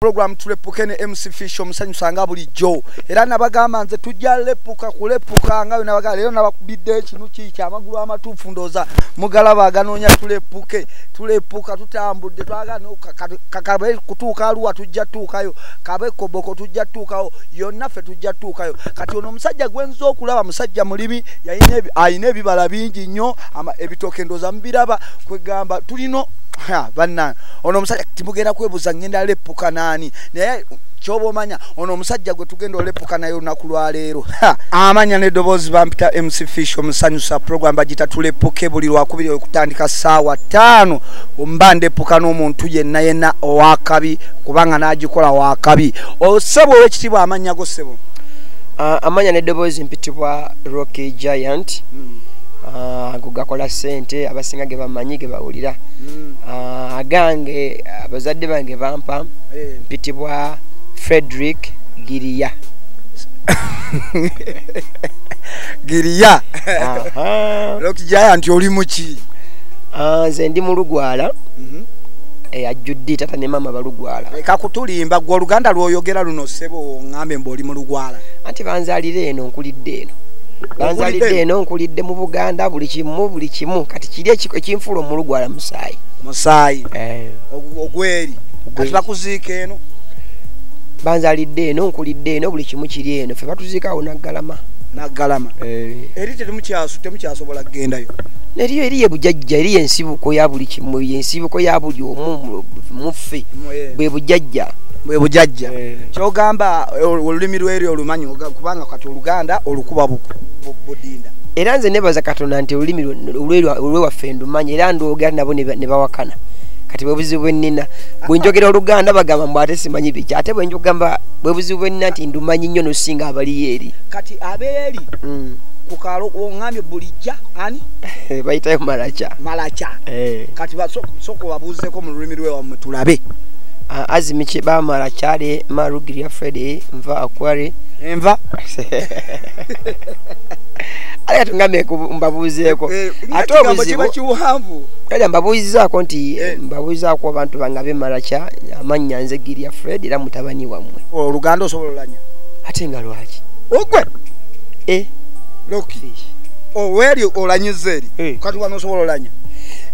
program tulepuke ne MC Fish omusanyusa nga bulijjo era nabagamba nze tujja lepuka kulepuka nga nabaga lero nabakubidde kinu kiki amagulu amatuufu ndoza mugalaba aganoonya tulepuke tulepuka tutambudde twagana kakabe kutuuka aluwa tujja tuukayo kabe koboko tujja tuukayo yonna ffe tujja tuukayo kati ono omusajja gwenza okulaba musajja mulimi alina ebibala bingi nnyo ebitooke ndoza mubiraba kwegamba tulino bannange ono omusajja timugenda kwebuza ngenda lepuka nani naye kyoba omanya ono omusajja gwe tugenda olepuka naye olunaku lwaleero amanya nedoboozi bampita mc fish omusanyusa program bagita tulepuke buli lwakubiri okutandika saawa taano mba ndepuka n'omuntu yenna yenna owakabi kubanga nagikola wakabi osebo oh, owekitiibwa amanya go sebo ah, amanya nedoboozi mpitibwa rocky giant hmm. ah, ago gakola sente abasinga ge bamanyi ge bawulira hmm. ah, agange abazadde bange bampa eh. mpitibwa frederick giriya giriya lokijaya nti oli muki ah, nze ndi mulugwala mhm. eyajjudde eh, tata ne maama balugwala leka kutulimba gwe oluganda lwoyogera luno sebo ngambe mbu oli mulugwala anti banzalira eno nkulidde eno banzalidde eno nkulidde mu buganda buli kimu buli kimu kati kiri ekinfuula omulu gwala musaayi musaayi eh. ogweri kati bakuziika eno banzalidde eno nkulidde eno buli kimu kiri eno fe batuziikaawo naggalama naggalama eh. eri temukyasobola kugendayo eriyo eriyo ebujajja eriyo ensibuko ya buli kimu ensibuko ya buli omu muffe eh. bwe bujajja bwe bujajja kyogamba olulimi lweri olumanyi kubanga kati oluganda olukuba budinda era nze nebaza katonda nti olulimi olwewaffe ndumanya era ndwogera nabo ne bawakana kati bwebuzibu bwenina bwenjogera oluganda bagamba mbu ate simanyi biki ate bwenjogamba bwebuzibu bwenina nti ndumanyi nnyo nosinga abaliyo eri kati abeeri mm. kukalo ongambye bulijja ani eh, bayitayo malaca malaca eh. kati soko babuuzeko mu lulimi lwewamwe tulabe ah, azimiki bamala kyale marugiria fredi nva akware enva ate tungambe mbabuuzeeko eh, eh, ate obuzibu kale mbabuuzizaako nti eh. mbabuuzizaako abantu bange abemalakya amannya nze giria fred era mutabani wammwe oh, oluganda osobola olanya ate nga lwaki ogwe e loki oweri oh, olanyiza eri kati wano osobola olanya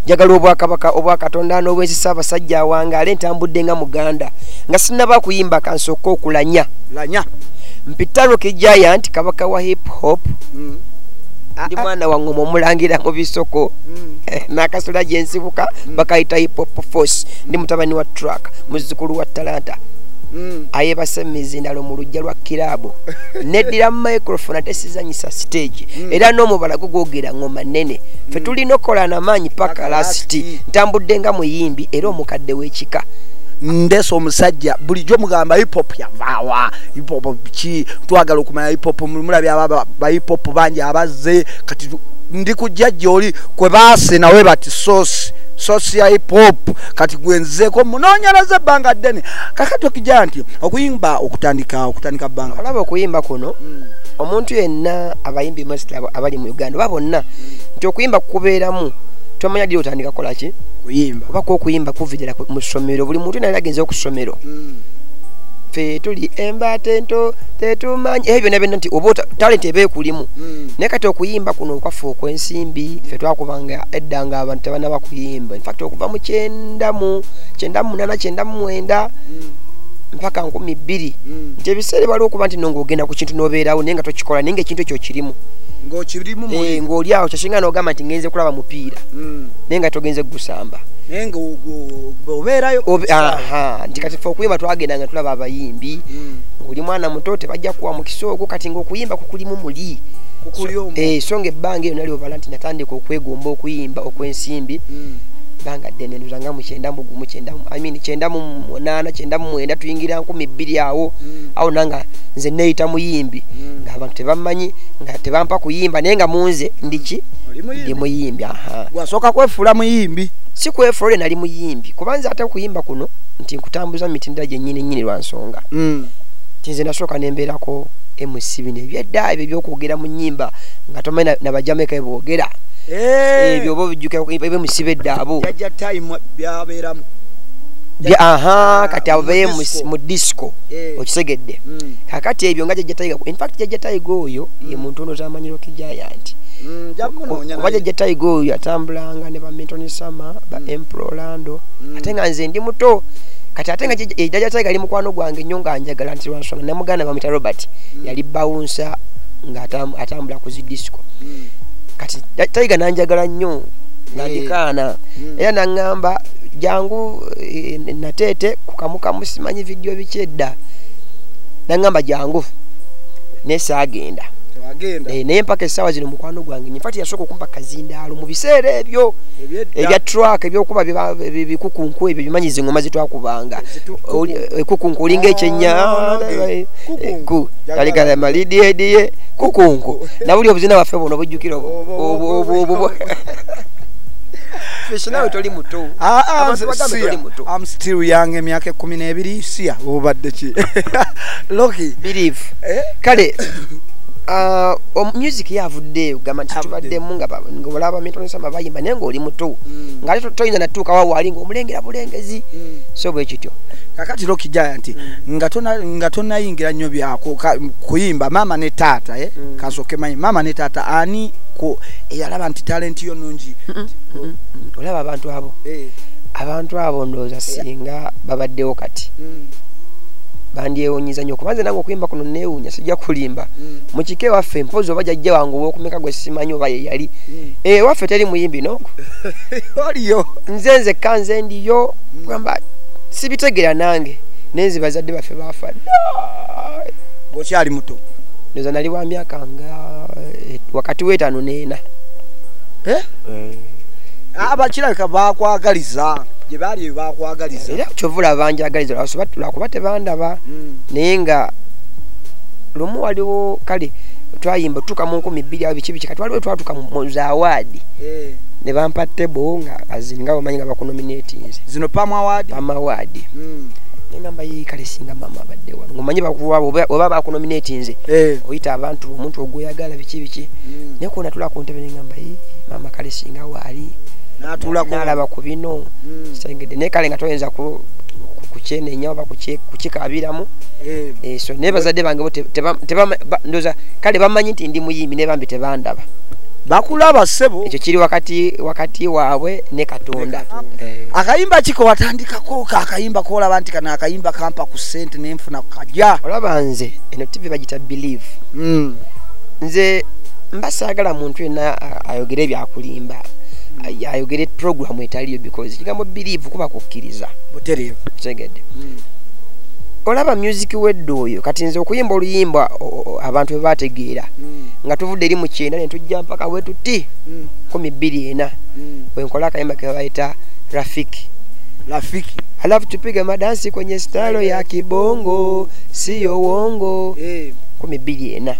njagala obwakabaka obwakatonda n'obwensi saabasajja awangaale ntambudde nga muganda nga sinaba kuyimba kansooka okulanya lanya mpitaruki giant kabaka wa hip hop mm. ah, ndi ah. mwana wa ngoma omulangira mu bisoko mm. eh, nakasula gyensibuka mm. bakayita hip hop force ndi mutabani wa truck muzukulu wa talanta Mm. ayebase mumizindalo mu lujja lwa kiraabu neddira mu microfone ate sizanyisa siteegi mm. era n'omubala gwo gwogera ngoma nnene fe mm. tulina okukola namaanyi paka lasiti ntambudde nga muyimbi era omukadde w'ekika ndesa omusajja bulijjo mugamba hipop yavaawa ipopo ki twagala okumanya ipopo mulabye aba baipopo bangi abazze kati ndi kujja gyoli kwe baase nawe bati sosi sosi ya ipopo kati gwenzeko munonyereza ebbanga ddene kakati okija nti okuyimba okutandika okutandika bbanga olaba okuyimba kuno mm. omuntu yenna abayimbi mast abali mu uganda oba bonna nti okuyimba kukubeeramu tomanya diri otandika kolaki kuyimba oba kwokuyimba kuvidira mu ssomero buli muntu naye agenze okusomero mm. ffe tuli embaata ento tetumanyi ebyo byona byona nti oba talenti eba ekulimu hmm. naye kati okuyimba kuno okwaffe okwensimbi ffe twakubanga edda nga abantu tebanaba kuyimba infact okuva mu kyendamu kyendamu munana kyendamu mwenda hmm. mpaka nkumi bbiri hmm. nti ebiseera ebaliwo okuba nti nonga ogenda ku kintu nobeerawo naye nga tokikola naye nga ekintu ekyo kirimu ngokirimu eh, ngoli awo kyasinga nogamba nti ngenze kulaba mupiira hmm. naye nga togenze gusamba naye nga obeerayo nti kati fe okuyimba twagenda nga tulaba abayimbi mm. oli mwana muto tebajja kuwa mukisa ogwo kati nga okuyimba kukulimu muli eh, so nga ebbanga eyo nali obala nti natandika okwegomba okuyimba okwensimbi mm. banga ddene nduzanga mu kyenda mu gumu kyenda mu i mean kyenda mu munaana kyenda mu mwenda tuyingira nkumi bbiri awo mm. awo nanga nze neeyita muyimbi mm. nga abantu tebammanyi nga tebampa kuyimba naye nga munze ndiki ndi muyimbi aha gwasooka kwefuula muyimbi si kwefuula oli nali muyimbi kuba nze ate okuyimba kuno nti nkutambuza mu mitendera gyennyini nnyini lwa nsonga mm. ti nze nasooka nembeerako mc bino ebyedda ebyo ebyokwogera mu nyimba nga tomanyi nabajamaika ebwogera eh. ebyo oba obijjukaebemusiba edda abo aha kati abo beye mu disco eh. okisegedde mm. kakati ebyo nga jajjataiga infact jajjataiga oyo mm. ye muntu ono tamanyirokijaya nti mm, oba jajjataiga oyo atambulanga ne bamintonisama ba mm. emperor orlando mm. ate nga nze ndi muto kati ate nga ejaja tiger ali mukwano gwange nnyo nga njagala nti lwansonga namuganda bamwita robert mm. yali bawunsa nga atambula ku zi disco mm. kati tiger nanjagala nnyo nga ndikaana eh. mm. era naŋŋamba jangu eh, nateete kukamukamu simanyi vidiyo biki edda naŋŋamba jangu naye saagenda eh, naye mpaka essaawa zino mukwano gwange nyefati yasooka okumpa kazindaalo mu biseera ebyo ebya truck ebyokuba bikukunku ebyo bimanyi zingoma zitwakubanga ekukunku eh, olinga ekyenya aligala malidiediye kukunku nabuli obuzina baffe buno bujjukira obwo nawe toli muto ah, ah, am still young emyaka ekumi n'ebiri siya obadde ki loki believe eh? kale ah, music yavuddeeyo gamba nti tubaddemu nga olaba okulaba bayimba naye ngaoli muto mm. nga ate toyinza natuuka wawaali ngaomulengera bulengezi mm. so bwe kityo kakati lokijaya nti mm. nga tonayingira nnyo byakuyimba maama ne taata eh? kasoke manyi maama ne taata ani eyalaba nti talenti yo nungi olaba abantu abo eh. abantu abo ndowooza eh. singa babaddewo kati bandyewunyiza nyo kubanze nange okuyimba kuno newunya sijja kulimba mukika ewaffe mpozi oba jajja wange owokumeka gwe simanyi oba yeyali eh, ewaffe teri muyimbi nogo oliyo nze nzekka nze ndiyo gamba sibitegera nange naye nze bazadde baffe baafa okyali muto ndoza nali wa myaka nga eh, wakati w'etaano neena eh? abakirabika ah, bakwagaliza gye baali bakwagaliza era kyova olaba njagaliza lwakuba tebandaba hmm. naye nga lumu waliwo kale twayimba tutuka mu nkumi bbiri awo biki biki kati waliwo twatuka mu za awaadi eh. ne bampa table nga azini nga bamanyi nga bakunominatinze zino pam awaadi pam awaadi hmm. nengamba yi kale singa mama abadde wano ngomanyi bakuwaba oba bakunominatinze eh. oyita abantu omuntu ogweyagala biki biki hmm. naye kuona tula ku ntebe nengamba yi mama kale singa waali nalaba ku bino hmm. sengedde naye kale nga toyinza kukyenenya oba kukikabiramu eh. so naye bazadde bange ndoza kale bamanyi nti ndi muyimbi ne bambi tebandaba bakulaba sebo ekyo kiri wakati wakati waabwe ne katonda eh. akayimba kiko watandikako ka akayimba kolaba nti kana akayimba kampa ku sente nenfuna kaja olaba nze eno tv bagita believe mm. nze mba saagala muntu yenna ayogere ebyakulimba ayogere programu etaliyo because ekigambo believe kuba kukkiriza butereevu tegedde mm. olaba music wedde oyo kati nze okuyimba oluyimba abantu bwe bategeera mm. nga tuvudde eri mu kyenda ne tujja mpaka we tuti mm. kumi bbiri ena mm. wenkola akayimba ke babayita rafiki rafiki alafu tupige madansi kwenye stalo ya kibongo siyo wongo eh. kumi bbiri ena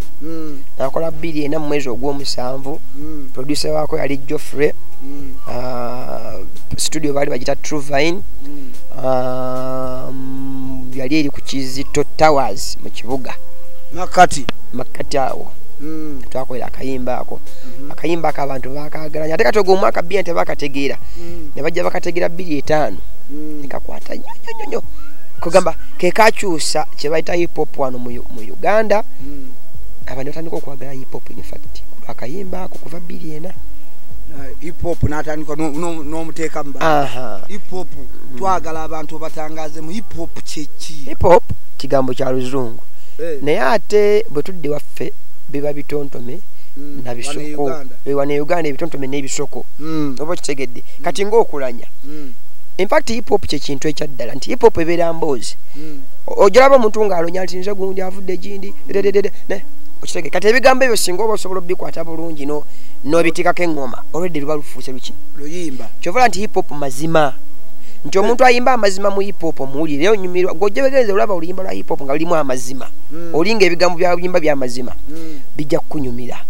nakola bbiri ena mu mwezi ogw'omusanvu producer waako yali joffrey ah, studio baali bagita truvine um, yali eri ku kizito towers mu kibuga makati makati awo mm. twakolera akayimba ako mm -hmm. akayimba ako abantu bakagalanya ate katoga omwaka bia nti bakategeera mm. ne bajja bakategeera bbiri etaano mm. nekakwata nyo nyo nyo nyo kugamba kekakyusa kyebayita hipop wano mu, mu uganda mm. abantu batandika okwagala hipop infact akayimba ako kuva bbiri ena uh, hipop natandika nomuteekamu no, no hipop mm. twagala abantu batangaze mu hipop kyeki hipop kigambo kya luzungu eh. naye ate bwe tudde waffe biba bitontome mm. na bisoko ewa ne uganda ebitontome n'ebisoko mm. oba kitegedde mm. kati ng'okulanya infact hiphop kyekintu ekyaddala nti hiphop ebeera mboozi ojolaba omuntu ng'alonya nti nze gundi avudde gindi dededede okitegede kati ebigambo ebyo singa oba osobola obikwata bulungi n'obitikako eŋŋoma olwedde luba lufuuse luki luyimba kyovala nti hiphop mazima nti omuntu ayimba amazima mu hip hop omuwulire naye onyumirwa gwe ojebegenze olaba oluyimba lwa hip hop nga lulimu amazima mm. olinga ebigambo byayimba byamazima mm. bijja kukunyumira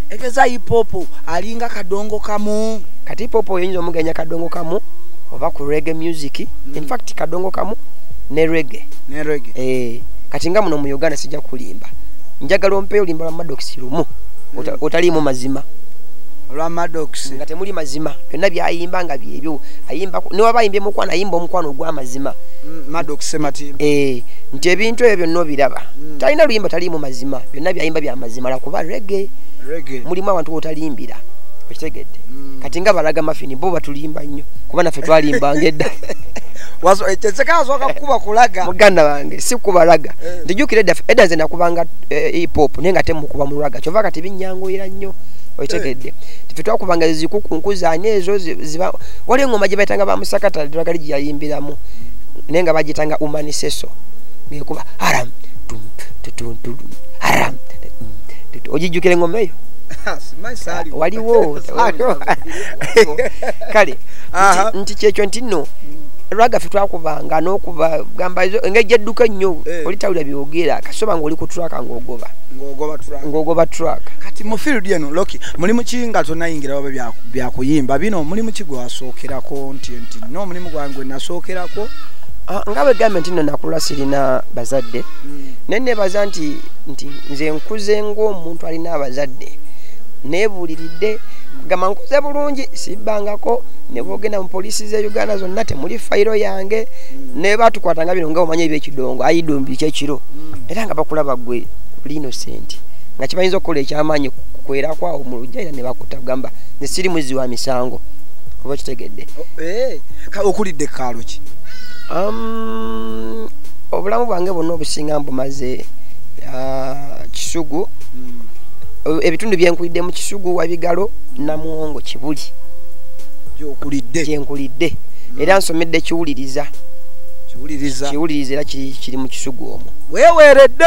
egeza hip hop alinga kadongo kamu kati hip hop oyinza omuganya kadongo kamu oba ku rege music mm. infact kadongo kamu ne rege ne rege eh kati nga muno mu uganda sijja kulimba njagala ompeyo olimba lwa madox lumu mm. otaliimu mazima olwa madox nga temuli mazima byonna byayimba nga byebyo ayimba newaba ayimbye mukwano ayimba omukwano ogwamazima mm, eh, nti ebintu ebyo byonna obiraba mm. talina luyimba taliimu mazima byonna byayimba byamazima lakuba rege mulimu abantu wotalimbira okitegedde mm. kati nga balaga mafini bo batulimba nnyo kuba naffe twalimbanga edda eh, muganda wange sikubalaga eh. ntijukira edda edda nze nakubanga ipop naye nga temukuba mulaga kyova kati binyanguyira nnyo okitegedde tife twakubanga zikukunkuzaani ezo waliyo engoma gye bayitanga ba musakata dwakali gye yayimbiramu naye nga bagitanga umaniseso ngekuba haram haram ogijjukira engoma eyo waliwo kale nti kyekyo nti nno lwagaffe twakubanga n'okuba gamba engeri edduka ennyo eh. oli tawulira byogera kasoba ng'oli ku traka ng'ogoba ng'ogoba traka kati mu field eno loki mulimu ki nga tonayingira waba byako byakuyimba bino omulimu ki gwewasookerako nti nti no omulimu gwange gwenasookerako ah, nga bwegambye nti no nakula sirina bazadde hmm. naye nebaza nti nti nze nkuze ngaomuntu alina abazadde nebuliridde gamba nkuze bulungi sibbangako nebwogenda mu poliisi ze uganda zonna temuli fayiro yange hmm. nebatukwata nga bino nga omanya ebyekidongo ayidombi kyekiro hmm. era nga bakulaba gwe linoseenti nga kibayinza okukola ekyamaanyi kukwerakwao mu lujjaira nebaku okutta kugamba nze siri muzzi wa misango oba kitegedde eh, okulidde kaalo ki um, obulamu bwange bwonna obusinga mbumaze uh, kisugu hmm. ebitundu byenkulidde mu kisugu wabigalo namuwongo kibuli gyenkulidde hmm. era nsomedde kiwuliriza kiwuliriza era kiri mu kisugu omwo weweeredde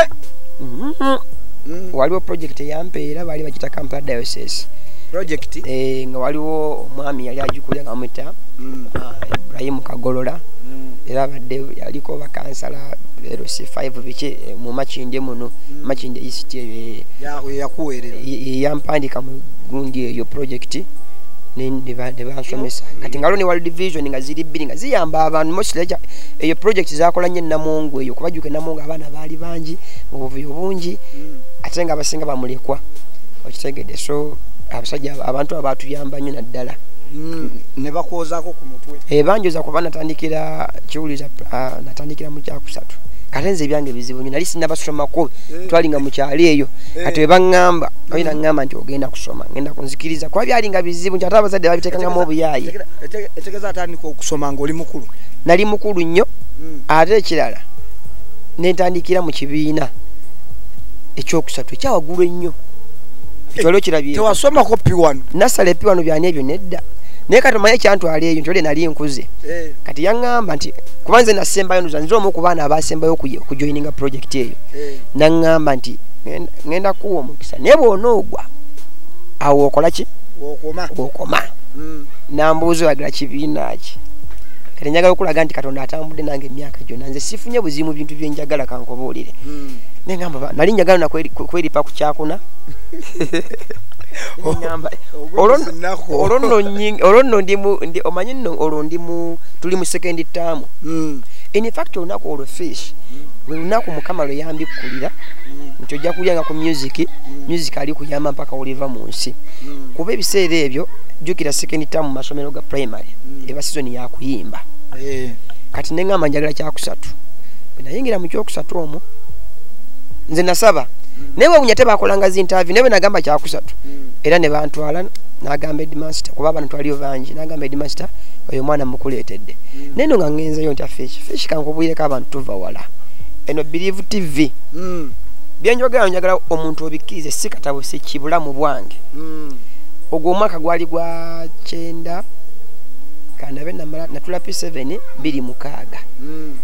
mm-hmm. hmm. waliwo projekiti eyampeera bali kita kampala diocese project eh nga waliwo omwami yali ajukulya nga muta mm. ah, ibrahim kagolola mm. era badde yaliko bakansala ero si 5 biche eh, mu machinde muno mm. machinde isite eh, ya ya kuwerera yampandika mu gundi eyo project nebansomesa kati nga lone world vision nga ziri bbiri nga ziyamba abantu mosileja eyo project zakola nyo enamungu eyo kubajuka enamungu abaana baali bangi obuvuyo bungi mm. ate nga abasinga bamulekwa okitegede so abasajja abantu abatuyamba nyo naddala mm, nebakwozako ku mutwe ebanjoza eh, kuba natandikira kiwuliza ah, natandikira mu kyakusatu kate nze ebyange bizibu nyo nali sinabasomako eh. twali nga mukyalo eyo eh. kati webaŋamba oyi naŋamba nti ogenda kusoma ngenda kunzikiriza kuba byali nga bizibu nti ate abazadde babitekangamu obuyayi etegeza atandika okusoma ngaoli mukulu nali mukulu nnyo mm. ate ekirala nentandikira mu kibiina ekyokusatu ekyawaggulu ennyo ekyalo kirabye tewasomako piwano nasala epiwano byani ebyo nedda naye kati omanyi ekyantwala eyo ntyole nali nkuze eh. kati yaŋŋamba nti kuba nze nasembayo nduza nze omu ku baana abasembayo okujoininga projekiti eyo eh. naŋŋamba nti ŋenda kuwa omukisa naye bwona ogwa awo okola ki okoma hmm. nambuuza oyagala kibiina ki kati njagala okulaga nti katonda atambudde nange emyaka gyona nze sifunye buzimu bintu byenjagala kankobuulire hmm. nengamba nali njagala nakweripa ku kyakuna olwo nno ndi omanyi nno olwo ndi mu tuli mu sekendi taamu hmm. infact olunaku olwo fish hmm. lwe lunaku mukama lwe yambikkulira hmm. nti ojja kulya nga ku music music ali kuyamba mpaka oliva mu nsi kuba ebiseera ebyo jjukira sekendi taamu mu masomero ga primary eba sizoni yakuyimba eh. kati neŋamba njagala kyakusatu bwenayingira mu kyokusatu omwo nze nasaba naye wewunya tebakolanga zintavi naye bwenagamba kyakusatu era nebantwala nagamba edmaster kuba abantu twaliyo bangi nagamba edmaster oyo omwana mukuleetedde naye no nga ngenzeyo ntya fish fish kankubwireko abantu tuva wala eno believe tv mm. byenjogera njagala omuntu obikkirize si katabo si kibulamu bwange mm. ogwo omwaka gwali gwa kyenda kandabe natula p7 biri mukaaga mm.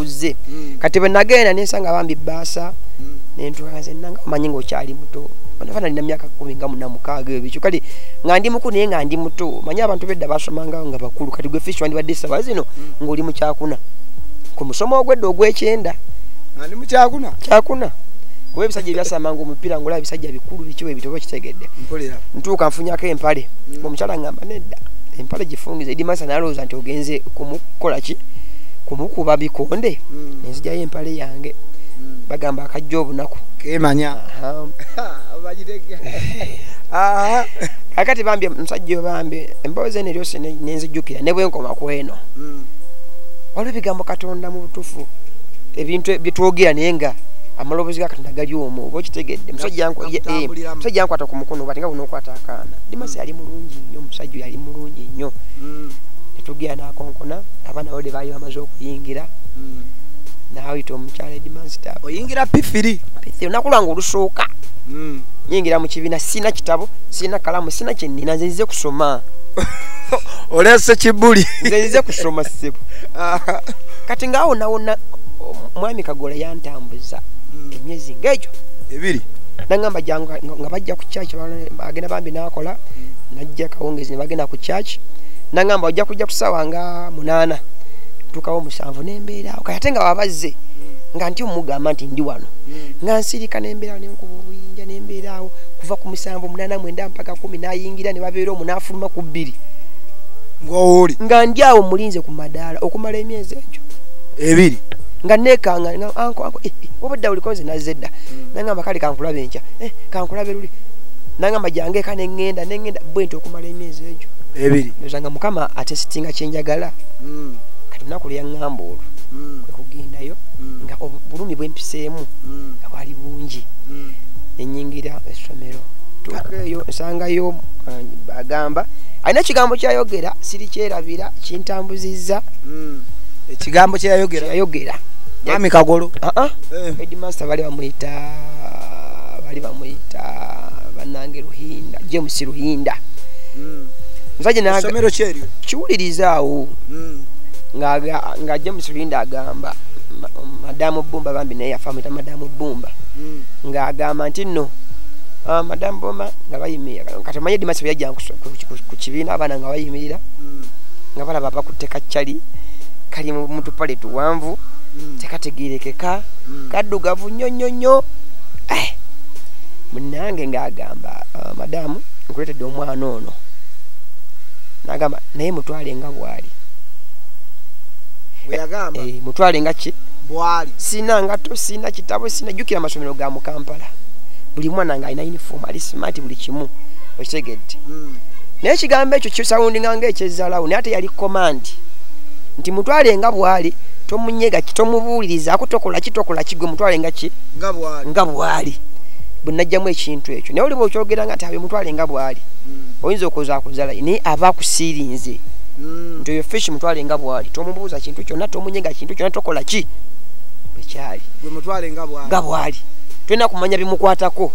kuzze mm. kati bwe nagenda nensanga bambi baasa mm. nentwaze nanga omanyi ngaokyali muto banafa nalina myaka kumi nga muna mukaaga ebikyo kale nga ndi mukulu naye nga ndi muto manyi abantu bedda basomanga nga bakulu kati gwe fish wandibadde esaba zino mm. ngaoli mukyakuna ku musomo ogwedda ogwekyenda ali mukyakuna kyakuna kuba ebisajja ebyasamanga omupiira ngaola ebisajja bikulu bikiwa ebitoba kitegedde ntuuka nfunyako empale omukyala ngamba nedda empale gifungiza edimasa nalowooza nti ogenze kumukolaki kumukuba bikonde mm. nenzijayo empale yange mm. bagamba akajja obunaku kemanya kakati bambi musajja obambi emboozi eno eryosi nenzijukira nebwenkoma kweno mm. waliwo ebigambo katonda mu butufu ebintu e, byetwogera naye nga amaloboozi ga katonda gali omu oba okitegedde musajja eh, nkwata ku mukono bati nga bunokwata akaana dimasi yali mulungi nnyo omusajja yali mulungi nnyo netugera nakonkona abaana bode baali bamaze okuyingira hmm. naayita omukyala edimansita oyingira pifiri pifiri olunaku lwange olusooka hmm. nyingira mu kibiina sirina kitabo sirina kalamu sirina kyenina nze nzize kusoma olese kibuli nze nzize kusoma sebo kati ngaawo nawona omwami kagola yantambuza hmm. emyezi ngaegyo ebiri nangamba jangu nga bajja ku church agenda bambi nakola najja kawongezi ne bagenda ku church nangamba ojja kujja kusawa nga munana tukawo musanvu nembeerawo kati ate nga wabazze nga nti omugamba nti ndi wano nga nsirika nembeerawo nenkuba obuyinja nembeerawo kuva ku musanvu munana mwenda mpaka kumi nayingira ne babeera omu nafuluma ku bbiri ngowoli nga ndi awo mulinze ku madaala okumala emyezi egyo ebiri nga nekanga nga anko anko eh, eh, obadde oliko nze nazze dda hmm. nangamba kale kankulabe enkya eh, kankulabe luli nangamba jange eka nengenda nengenda bwenti okumala emyezi egyo ebiri nzanga mukama ate sitinga kyenjagala mm. kati lunaku lweyaŋŋamba olwo mm. kwe kugendayo mm. nga obulumi bwempiseemu nga bwali bungi nenyingira essomero tukeeyo nsangayo uh, bagamba alina ekigambo kyayogera siri kyerabira kintambuzizza ekigambo kyeyayogera yayogera ami kagolo uh-uh. eh. edmaster bali bamuyita bali bamuyita banange ruhinda james ruhinda Mm. nva gye naga- essomero kyeryo kiwulirizaawo Mm. nga- nga james linda agamba ma- madamu bumba bambi naye yafa amuyita madamu bumba Mm. ng'agamba nti nno ah, madamu bumba nga bayimirira kati omanye dimasi bwe yajja nkuso- ku- ku- ku kibiina abaana nga bayimirira Mm. nga balaba bakutte kaccali kali mu mu tupale tuwanvu Mm. tekategerekeka Mm. kaddugavu nnyo nnyo nnyo Eh, munange ng'agamba ah, madamu nkuletedde omwana ono nagamba naye mutwale nga bwali eh, mutwale nga ki bwali sina ngato sina kitabo sina jukira amasomero ga mukampala buli mwana nga alina uniform ali smart buli kimu okitegedde hmm. naye ekigambo ekyo kisawundinga nga ekyezalawo naye ate yali command nti mutwale nga bwali tomunyega kitomubuuliriza akutokola kitokola kigwe mutwale nga ki nga bwali bwenajjamu ekintu ekyo ekyo naye oliba okyogera nga nti abimutwale nga bwali mm. oyinza okuzakuzala naye aba akusiirinze mm. nti oyo fish mutwale nga bwali tomubuuza kintu kyonna tomunyega kintu kyonna tokola ki bwekyali nga bwali tolina kumanya bimukwatako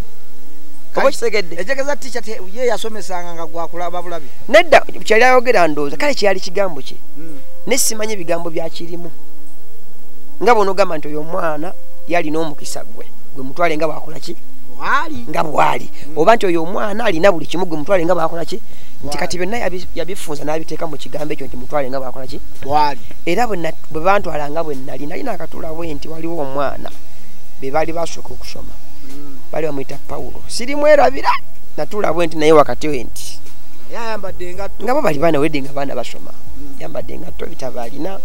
nedda kyali ayogera ndowooza kale kyeyali kigambo kye mm. naye simanyi ebigambo byakirimu nga bwonogamba nti oyo omwana yalina omukisa gwe gwe mutwale nga bwakolaki nga bwali oba nti oyo omwana alina buli kimu gwe mutwale nga bwakola ki nti kati byonna yabifunza n'abiteeka mu kigambo ekyo nti mutwale nga bwakola ki era bwe bantwala nga bwe nali nali nakatula bwe nti waliwo omwana be baali basooka okusoma hmm. baali bamuyita pawulo sirimwerabira natula bwe nti naye wakati we nti nga bo bali baana wedde nga baana basoma hmm. yambadde engatto ebitabo alina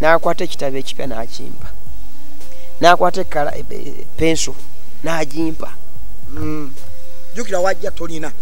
n'akwata ekitabo ekipya n'akimpa n'akwata ekkala e, e, penso n'agimpa mm. jukira wajja tolina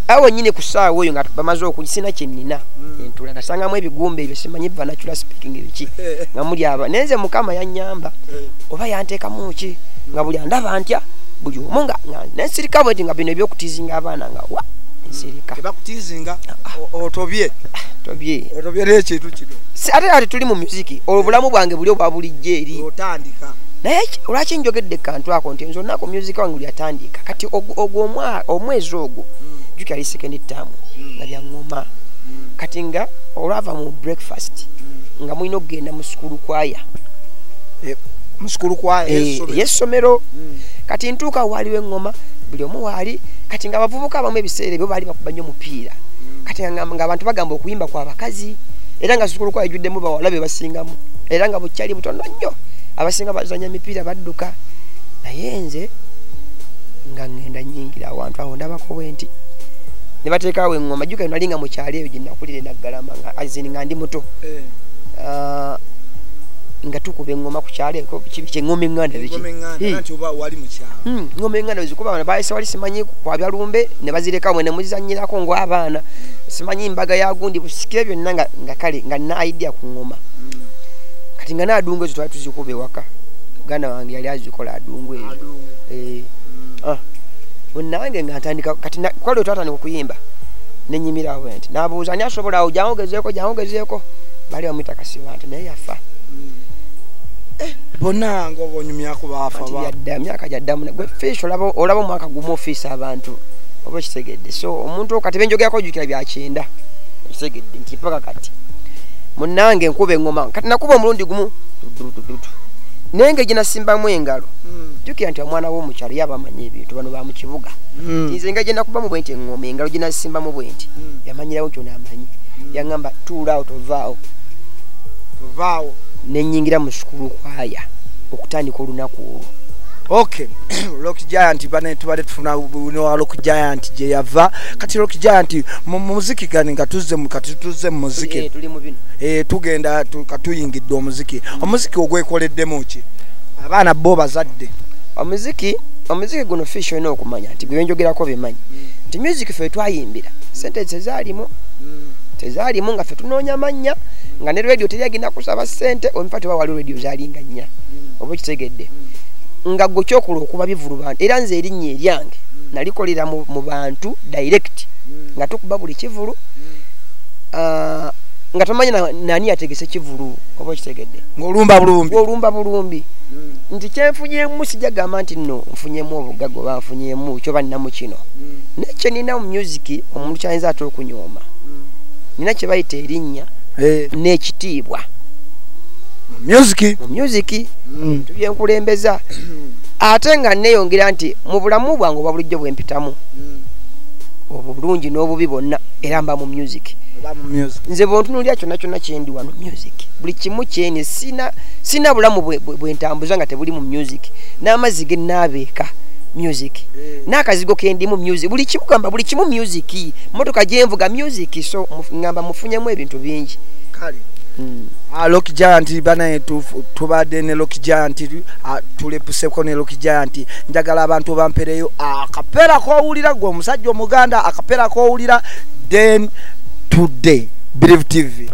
awo wenyini ku ssaawa oyo nga bamaze oku sina kye nnina mm. entula nasangamu ebigumba ebyo simanyi banacula speaking ebiki nga muli aba naye nze mukama yannyamba eh. oba yanteekamu ki nga buli andaba ntya buli omu nga nensirika bweti nga bino ebyokutizinga abaana nga wa nsirika tebakutizinga ah, ah. otobye ah, tobye otobye n'ekintu kino ate ati tuli mu muziki obulamu bwange buli obwa bulijjo eri otandika naye lwaki njogedde kantu ako nti nze olunaku music wange lyatandiika kati ogwo omwezi ogwo mm. juki ali second term mm. nga byaŋoma mm. kati nga olwava mu breakfast nga mulina okugenda mu sukulu kwaya eh, mu sukulu kwaya eh, yesomero kati ntuuka waaliwo eŋoma buli omu waali kati nga abavubuka abamu ebiseera ebyo baali bakuba nnyo omupiira kati nga abantu bagamba okuyimba kwa bakazi era nga sukulu kwaya ejuddemu bawala be basingamu era nga bukyali butono nnyo abasinga bazanya mipiira badduka naye nze nga ŋŋenda nyingira awantu awo ndabako bwe nti ne bateekaawo eŋŋoma jjuka nali nga mu kyalo eyo gye nakulira enaggalama nga azini nga ndi muto eh. ah, nga tukuba eŋŋoma ku kyalo eko kyeŋŋoma eŋŋanda ŋŋoma eŋŋanda zikuba hmm, bana baayise wali simanyi kwabya lumbe ne bazirekawo ne muzanyirako ng'abaana hmm. simanyi mbaga ya gundi busikire byonna nga kale nga naayiddya ku ŋŋoma kati nga naadungu ezo twali tuzikuba ewaka muganda wange yali azikola adungu eyo eh. mm. ah. nange nga ntandika kati kwali twatandika okuyimba nenyimira awo nti nabuuza ani asobola awo jangogezeeko jangogezeeko bali bamwita kasiba nti naye yafa mm. eh. bonna nga obonyumyaku bafayadda myaka gyaddamu gwe fish olaba omwaka gumu ofiisa abantu oba okitegedde so omuntu kati benjogerako ojukira byakyenda okitegedde nti mpaka kati munange nkuba engoma kati nakuba omulundi gumu naye nga gyenasimbamu engalo hmm. jukira nti omwana womukyalo yaba amanyi ebintu bano bamukibuga hmm. nze nga gyenakubamu bwenti engoma engalo gyenasimbamu bwenti hmm. yamanyirawo nti onamanyi yagamba tuulaawo tovaawo tovaawo nenyingira mu sukulu kwaya okutandika olunaku olwo okay rock giant bane tubale tufuna no rock giant je yava kati rock giant mu muziki gani nga tuzze mu kati tuzze mu muziki eh, eh, tugenda katuyingidde omuziki omuziki ogwekoleddemu ki abaana bo bazadde omuziki omuziki guno fish olina okumanya nti gwenjogerako bimanyi mm. nti music fe twayimbira sente tezalimu mm. tezalimu nga fe tunoonya amannya mm. nga ne radio teri agenda kusaba sente omifa tebawali radio zalinga nnya mm. oba okitegedde mm. nga gwe kyokola okuba bivulu bantu era nze erinnya eryange mm. nalikolera mu bantu direct mm. nga tukuba buli kivulu mm. ah, nga tomanyi nani yategese kivulu oba okitegedde ngaolumba bulumbi olumba bulumbi hmm. nti kyenfunyemu sijagamba nti no nfunyemu obugaga oba nfunyemu kyoba ninamu kino hmm. naye kyenina mu music omuntu kyayinza ate okunyooma hmm. nina kyebayita erinnya eh. n'ekitiibwa mumuziki mm. tubyenkulembeza ate nga neyongera nti mu bulamu bwange obwa bulijjo bwempitamu mm. obulungi n'obubi bonna era mba mu music nze bwontunulira kyonna kyonna kyendi wano music buli kimu kyeni sina bulamu bwentambuza nga tebuli mu music n'amazzi genaabeeka music eh. n'akazigo kendimu music buli kimu gamba buli kimu music motoka gyenvuga music so ngamba mufunyemu ebintu bingi kale hmm. ah, Lock Giant banaye tubadde ne Lock Giant ah, tulepuseko ne Lock Giant njagala abantu bampereyo ah, akapera kowulira gwe omusajja omuganda akapera kowulira then today believe tv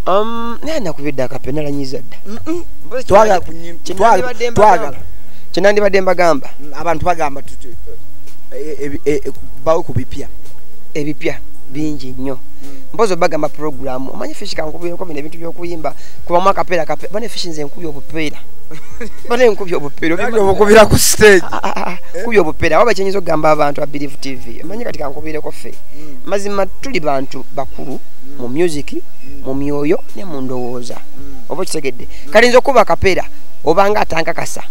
um naye nakubidde akapena lanyiza dda twagala twagala kyenandibadde mbagamba mm, abantu bagamba tuti eh, eh, eh, bawe ku bipya ebipya bingi nnyo mm. mpozi obagamba programu omanyi fishi kankubireko bino ebintu byokuyimba kubamu akapeera kapeera bane fishi nze nkubi obupeera bane nkubi obupeera obukubira ku stage ah, ah, ah, eh? kubya obupera waba kyenyiza okugamba abantu abilive tv omanyi kati kankubireko ffe hmm. mazima tuli bantu bakulu hmm. mu music hmm. mu myoyo ne mu ndowooza oba okitegedde kati nza okuba akapera obanga atankakasa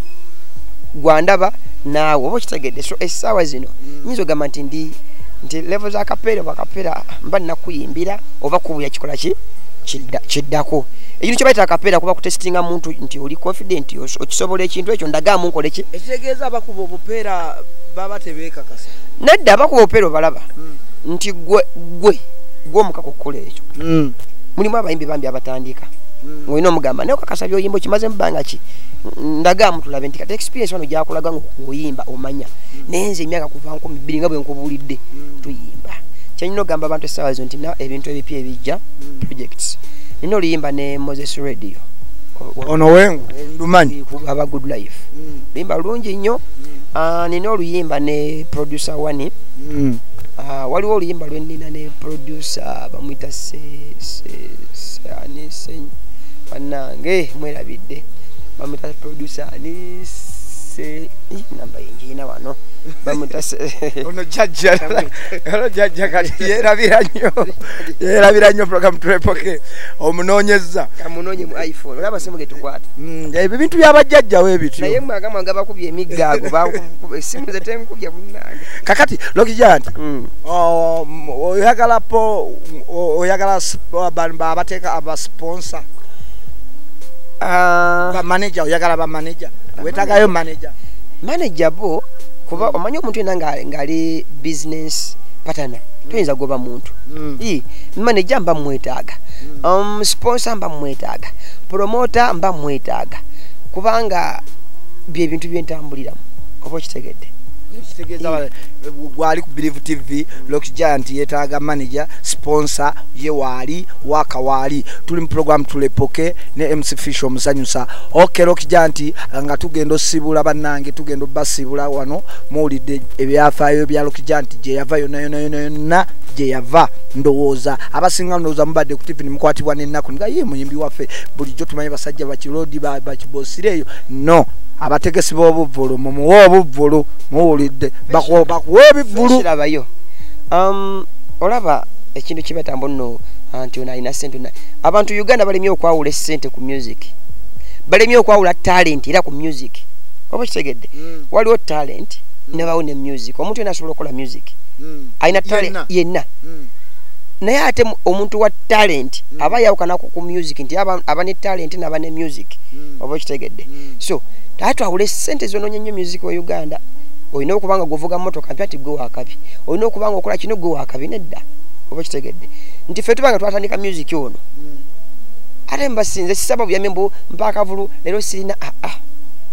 gwandaba naawe oba okitegedde so essaawa zino nyinza ogamba nti ndi nti levo za kapera bakapera mba nakuyimbira oba kubuya kikola ki kiddako ekintu kyebayita akapera kuba kutesitinga muntu nti oli confident okisobola ekintu ekyo ndagaamu nkoleki kitegeeza abakuba obupeera baba tebeekakasa nedda abakuba obupeera obalaba hmm. nti gwe gwe gwomuka kukkula ekyo hmm. mulimu abayimbi bambi abatandika hmm. olina omugamba naye okakasa byoyimba okimaze mubanga ki ndaga mutulabe nti kati experience wano gyakulaga nga okuyimba omanya naye nze emyaka kuva nkumi bbiri nga bwe nkubuulidde tuyimba kyenyina ogamba abantu essaawa zo nti na ebintu ebipya ebijja projects nina oluyimba ne moses radio ono wengu ndumanyi aba good life mm. luyimba lulungi nnyo mm. ah, nina oluyimba ne producer wani mm. ah, waliwo oluyimba lwenina ne producer bamwita banange mwerabidde bamwita producer ani se namba yingiina wano bamwita ono jajja ono jajja kati yerabira nnyo yerabira nnyo program turepoke omunoonyezza kamunoonye mu iphone olaba simu getukwata Mm, ebyo bintu byabajjajjawo ebityoyemagamaagabakubyeemiggagokakati lokijanti mm. oyagala po oyagala abateeka abasponsa ah. bamaneja oyagala bamaneja wetagayo maneja maneja bo kuba mm. omanyi omuntu yena ngaali business patana toyinza goba muntu maneja mba mumwetaaga um, sponsa mba mumwetaaga promota mba mwetaaga kubanga byebintu byentambuliramu oba okitegedde eh, gwali ku bilive tv lox giant yetaaga manager sponsor ye waali waka waali tuli mu program tulepoke ne mc fish omusanyusa ok lox giant nga tugenda osibula bannange tugenda obasibula wano muwulidde ebyafaayo bya lox giant gyeyava yonayonayonayonna gyeyava ndowooza abasinga ndowooza mubadde ku tv nimukwatibwa nennaku nga ye muyima nabbi waffe bulijjo tumanyi basajja bakirodi bakibosireeyo no abategesi b'obuvvulu mumuwe obuvvulu muwulidde bakuwa ebivvulurabayo um, olaba ekintu kibatamba nno uh, nti ono alina sente abantu uganda balemye okwawula esente ku music balemye okwawula talenti era ku music oba kitegedde mm. waliwo talenti mm. nebawo ne music omuntu yena asobola okukola music mm. alina talenti yenna naye ate omuntu wa talenti mm. aba yawukana ku music nti aba ne talenti naba ne music mm. oba okitegedde mm. so taa twawule sente zononya nnyo music wa uganda olina okuba nga gwovuga motoka mpya ti gwe wakabi olina okuba nga okola kino gwe wakabi nedda oba okitegedde nti fe tuba nga twatandika music ono ate mbasinze sisaba buyambi mbu mpakavulu leero sirina aa ah, ah.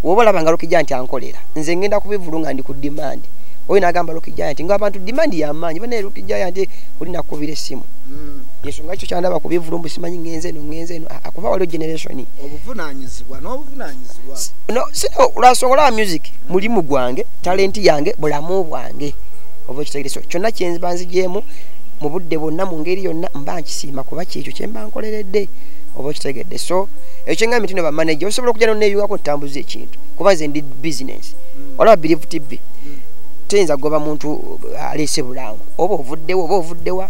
woba olaba nga lokija nti ankolera nze ngenda kubivulu nga ndi ku dimandi oyo nagamba Rocky Giant nga abantu demand ya maanyi bane Rocky Giant oli nakubira esimu mm. yensonga ekyo kyandaba ku bivulumbu simanyi ngenze eno ngenze eno ah, akuba waliwo generation obuvunanyizibwa n'obuvunanyizibwa no sino lwansonga olaba music mulimu gwange talenti yange bulamu bwange oba ekitegere so kyonna kyenziba nzigyemu mu budde bwonna mu ngeri yonna mba nkisiima kuba kyekyo kyemba nkoleredde oba okitegedde so ekyo kyenga mitino bamanaja osobola okujja noneyungako otambuza ekintu kuba nze ndi bisinesi mm. olaba birivu tibbi mm. teyinza kugoba muntu uh, aleese bulango oba ovuddewo oba ovuddewa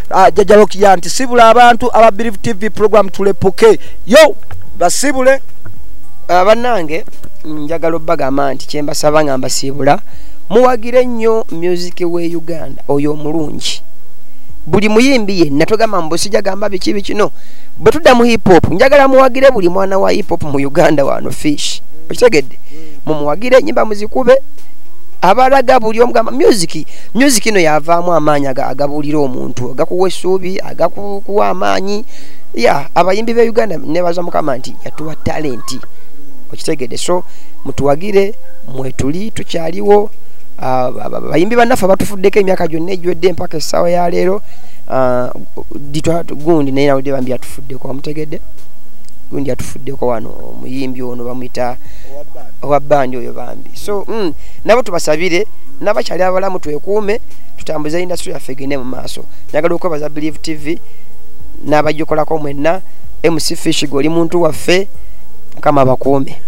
Ah, jajja lokiya nti sibula abantu aba believe tv program tulepuke yo basibule ah, banange njagala obagamba nti kyembasaba nga mbasiibula muwagire nnyo music we uganda oyo omulungi buli muyimbi yenna togamba mbusija gamba biki bikino bwe tudda mu hip hop njagala muwagire buli mwana wa hip hop mu uganda wano fish okitegedde mumuwagire enyimba muzikube abalaga buli omugamba music music ino yavaamu amaanyi agabuulira omuntu agakuwa essuubi agakuwa amaanyi ya abayimbi be uganda nebaza mukama nti yatuwa talenti okitegede so mutuwagire mwetuli tukyaliwo ah, bayimbi bannaffe batufuddeko emyaka gyonna egiwedde empaka essaawa ya leero ah, gundi naye nawudde bambi yatufuddeko wamutegedde gundi yatufuddeko wano omuyimbi ono bamwita owa bandi oyo bambi so mm, nabo tubasabire nabakyali abalamu twekuume tutambuze industry yaffe egende mu maaso njagala okwebaza believe tv n'abagikolako mwenna mc fish goli muntu waffe mukama abakuume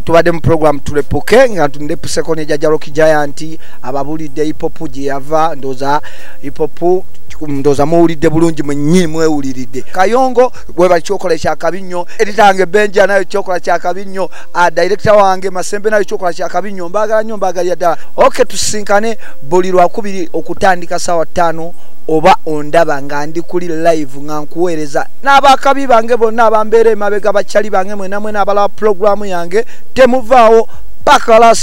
tubadde mu program tulepuke nga ndepuseko ne jajalo kijayanti ababulidde hipopu gye yava ndoza hipopu ndoza muwulidde bulungi mwenyi mwewuliridde kayongo webali kyokola ekyakabi nnyo eritange benja nayo kyokola kyakabi nnyo ah, director wange masembe nayo kyokola kyakabi nyo mbagala nyo mbagalira ddala ok tusinkane buli lwakubiri okutandika sawa tano oba ondaba nga ndi kuli live nga nkuweereza n'abakabi bange bonna abambeera emabega bakyali bange mwenamwena abalaba pulogulaamu yange temuvaawo paka last